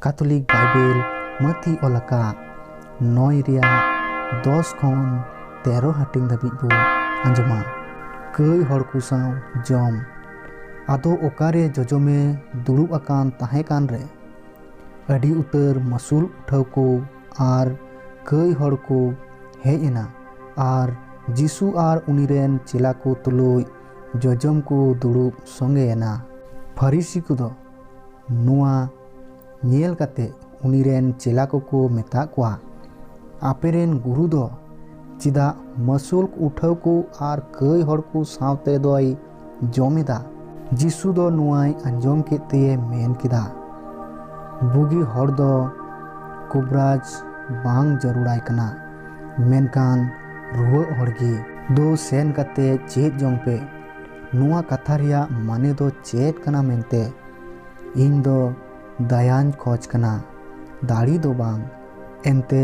ᱠᱟᱛᱷᱚᱞᱤᱠ Bible ᱢᱟᱹᱛᱤ ᱚᱞ ᱟᱠᱟᱫ ᱱᱚᱭ ᱨᱮᱭᱟᱜ ᱫᱚᱥ ᱠᱷᱚᱱ ᱛᱮᱨᱚ ᱦᱟᱹᱴᱤᱧ ᱫᱷᱟᱹᱵᱤᱡ ᱵᱚ ᱟᱸᱡᱚᱢᱟ ᱠᱟᱹᱭ ᱦᱚᱲ ᱠᱚ ᱥᱟᱶ ᱡᱚᱢ ᱟᱫᱚ ᱚᱠᱟᱨᱮ ᱡᱚᱡᱚᱢᱮ ᱫᱩᱲᱩᱵ ᱟᱠᱟᱱ ᱛᱟᱦᱮᱸ ᱠᱟᱱ ᱨᱮ ᱟᱹᱰᱤ ᱩᱛᱟᱹᱨ ᱢᱟᱹᱥᱩᱞ ᱩᱴᱷᱟᱹᱣ ᱠᱚ ᱟᱨ ᱠᱟᱹᱭ ᱦᱚᱲ ᱠᱚ ᱦᱮᱡ ᱮᱱᱟ ᱟᱨ ᱡᱤᱥᱩ ᱟᱨ ᱩᱱᱤ ᱨᱮᱱ ᱪᱮᱞᱟ ᱠᱚ ᱛᱩᱞᱩᱡ ᱡᱚᱡᱚᱢ ᱠᱚ ᱫᱩᱲᱩᱵ ᱥᱚᱸᱜᱮ ᱮᱱᱟ ᱯᱷᱟᱹᱨᱤᱥᱤ ᱠᱚᱫᱚ ᱱᱚᱣᱟ ᱧᱮᱞ ᱠᱟᱛᱮ ᱩᱱᱤ ᱨᱮᱱ ᱪᱮᱞᱟ ᱠᱚᱠᱚ ᱢᱮᱛᱟᱜ ᱠᱚᱣᱟ, ᱟᱯᱮ ᱨᱮᱱ ᱜᱩᱨᱩ ᱫᱚ ᱪᱮᱫᱟᱜ ᱢᱟᱹᱥᱩᱞᱠ ᱩᱴᱷᱟᱹᱣ ᱠᱚ ᱟᱨ ᱠᱟᱹᱭ ᱦᱚᱲ ᱠᱚ ᱥᱟᱶᱛᱮ ᱫᱚᱭ ᱡᱚᱢ ᱮᱫᱟ? ᱡᱤᱥᱩ ᱫᱚ ᱱᱚᱣᱟᱭ ᱟᱸᱡᱚᱢ ᱠᱮᱫ ᱛᱮᱭᱮ ᱢᱮᱱ ᱠᱮᱫᱟ, ᱵᱩᱜᱤ ᱦᱚᱲ ᱫᱚ ᱠᱩᱵᱽᱨᱟᱡᱽ ᱵᱟᱝ ᱡᱟᱹᱨᱩᱲᱟᱭ ᱠᱟᱱᱟ, ᱢᱮᱱᱠᱷᱟᱱ ᱨᱩᱣᱟᱹᱜ ᱦᱚᱲ ᱜᱮ᱾ ᱫᱩ ᱥᱮᱱ ᱠᱟᱛᱮ ᱪᱮᱫ ᱡᱚᱝ ᱯᱮ᱾ ᱱᱚᱣᱟ ᱠᱟᱛᱷᱟ ᱨᱮᱭᱟᱜ ᱢᱟᱱᱮ ᱫᱚ ᱪᱮᱫ ᱠᱟᱱᱟ ᱢᱮᱱᱛᱮ ᱤᱧ ᱫᱚ ᱫᱟᱭᱟᱧ ᱠᱷᱚᱡᱽ ᱠᱟᱱᱟ ᱫᱟᱲᱮ ᱫᱚ ᱵᱟᱝ ᱮᱱᱛᱮ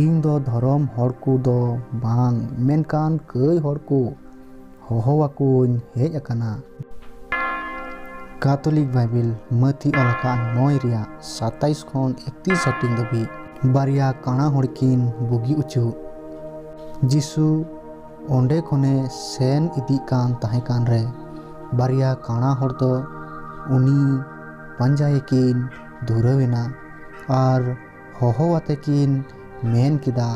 ᱤᱧ ᱫᱚ ᱫᱷᱚᱨᱚᱢ ᱦᱚᱲ ᱠᱚ ᱫᱚ ᱵᱟᱝ ᱢᱮᱱᱠᱷᱟᱱ ᱠᱟᱹᱭ ᱦᱚᱲ ᱠᱚ ᱦᱚᱦᱚ ᱟᱠᱚᱧ ᱦᱮᱡ ᱟᱠᱟᱱᱟ ᱠᱟᱛᱚᱞᱤᱠ ᱵᱟᱭᱵᱤᱞ ᱢᱟᱹᱛᱷᱤ ᱚᱞ ᱟᱠᱟᱫ ᱱᱚᱭ ᱨᱮᱭᱟᱜ ᱥᱟᱛᱟᱭᱤᱥ ᱠᱷᱚᱱ ᱮᱠᱛᱤᱨᱤᱥ ᱦᱟᱹᱴᱤᱧ ᱫᱷᱟᱹᱵᱤᱡ ᱵᱟᱨᱭᱟ ᱠᱟᱬᱟ ᱦᱚᱲ ᱠᱤᱱ ᱵᱩᱜᱤ ᱚᱪᱚᱜ ᱡᱤᱥᱩ ᱚᱱᱰᱮ ᱠᱷᱚᱱᱮ ᱥᱮᱱ ᱤᱫᱤᱜ ᱠᱟᱱ ᱛᱟᱦᱮᱸ ᱠᱟᱱ ᱨᱮ ᱵᱟᱨᱭᱟ ᱠᱟᱬᱟ ᱦᱚᱲ ᱫᱚ ᱩᱱᱤ ᱯᱟᱸᱡᱟᱭᱮ ᱠᱤᱱ ᱫᱷᱩᱨᱟᱹᱣ ᱮᱱᱟ ᱟᱨ ᱦᱚᱦᱚ ᱟᱛᱮ ᱠᱤᱱ ᱢᱮᱱ ᱠᱮᱫᱟ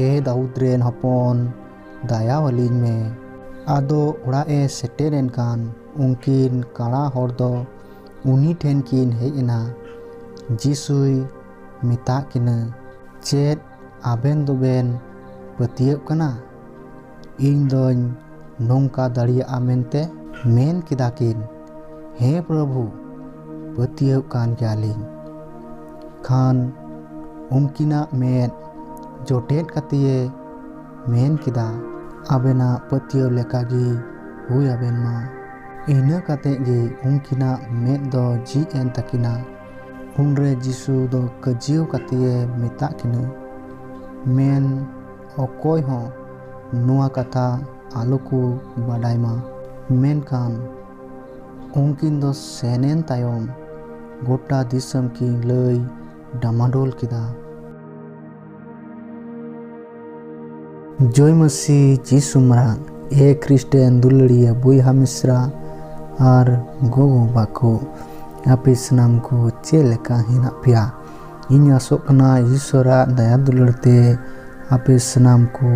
ᱮ ᱫᱟᱣᱩᱫᱽ ᱨᱮᱱ ᱦᱚᱯᱚᱱ ᱫᱟᱭᱟ ᱟᱹᱞᱤᱧ ᱢᱮ ᱟᱫᱚ ᱚᱲᱟᱜ ᱮ ᱥᱮᱴᱮᱨ ᱮᱱ ᱠᱷᱟᱱ ᱩᱱᱠᱤᱱ ᱠᱟᱬᱟ ᱦᱚᱲ ᱫᱚ ᱩᱱᱤ ᱴᱷᱮᱱ ᱠᱤᱱ ᱦᱮᱡ ᱮᱱᱟ ᱡᱤᱥᱩᱭ ᱢᱮᱛᱟᱫ ᱠᱤᱱᱟᱹ ᱪᱮᱫ ᱟᱵᱮᱱ ᱫᱚᱵᱮᱱ ᱯᱟᱹᱛᱭᱟᱹᱜ ᱠᱟᱱᱟ ᱤᱧ ᱫᱚᱧ ᱱᱚᱝᱠᱟ ᱫᱟᱲᱮᱭᱟᱜᱼᱟ ᱢᱮᱱᱛᱮ ᱢᱮᱱ ᱠᱮᱫᱟ ᱠᱤᱱ ᱦᱮᱸ ᱯᱨᱚᱵᱷᱩ ᱯᱟᱹᱛᱭᱟᱹᱣ ᱠᱟᱱ ᱜᱮᱭᱟᱞᱤᱧ ᱠᱷᱟᱱ ᱩᱱᱠᱤᱱᱟᱜ ᱢᱮᱫ ᱡᱚᱴᱮᱫ ᱠᱟᱛᱮᱭᱮ ᱢᱮᱱ ᱠᱮᱫᱟ ᱟᱵᱮᱱᱟᱜ ᱯᱟᱹᱛᱭᱟᱹᱣ ᱞᱮᱠᱟᱜᱮ ᱦᱩᱭ ᱟᱵᱮᱱ ᱢᱟ ᱤᱱᱟᱹ ᱠᱟᱛᱮ ᱜᱮ ᱩᱱᱠᱤᱱᱟᱜ ᱢᱮᱫ ᱫᱚ ᱡᱷᱤᱡ ᱮᱱ ᱛᱟᱹᱠᱤᱱᱟ ᱩᱱᱨᱮ ᱡᱤᱥᱩ ᱫᱚ ᱠᱟᱹᱡᱤᱭᱟᱹᱣ ᱠᱟᱛᱮᱭᱮ ᱢᱮᱛᱟᱜ ᱠᱤᱱᱟᱹ ᱢᱮᱱ ᱚᱠᱚᱭ ᱦᱚᱸ ᱱᱚᱣᱟ ᱠᱟᱛᱷᱟ ᱟᱞᱚ ᱠᱚ ᱵᱟᱰᱟᱭ ᱢᱟ ᱢᱮᱱᱠᱷᱟᱱ ᱩᱱᱠᱤᱱ ᱫᱚ ᱥᱮᱱᱮᱱ ᱛᱟᱭᱚᱢ ᱜᱚᱴᱟ ᱫᱤᱥᱚᱢ ᱠᱤᱱ ᱞᱟᱹᱭ ᱰᱟᱢᱟᱰᱳᱞ ᱠᱮᱫᱟ ᱡᱚᱭ ᱢᱟᱹᱥᱤ ᱡᱤᱥᱩ ᱢᱟᱨᱟᱝ ᱮ ᱠᱷᱨᱤᱥᱴᱮᱱ ᱫᱩᱞᱟᱹᱲᱤᱭᱟᱹ ᱵᱚᱭᱦᱟ ᱢᱤᱥᱨᱟ ᱟᱨ ᱜᱚᱜᱚ ᱵᱟᱠᱚ ᱟᱯᱮ ᱥᱟᱱᱟᱢ ᱠᱚ ᱪᱮᱫ ᱞᱮᱠᱟ ᱦᱮᱱᱟᱜ ᱯᱮᱭᱟ ᱤᱧ ᱟᱥᱚᱜ ᱠᱟᱱᱟ ᱤᱥᱚᱨᱟᱜ ᱫᱟᱭᱟ ᱫᱩᱞᱟᱹᱲ ᱛᱮ ᱟᱯᱮ ᱥᱟᱱᱟᱢ ᱠᱚ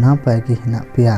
ᱱᱟᱯᱟᱭ ᱜᱮ ᱦᱮᱱᱟᱜ ᱯᱮᱭᱟ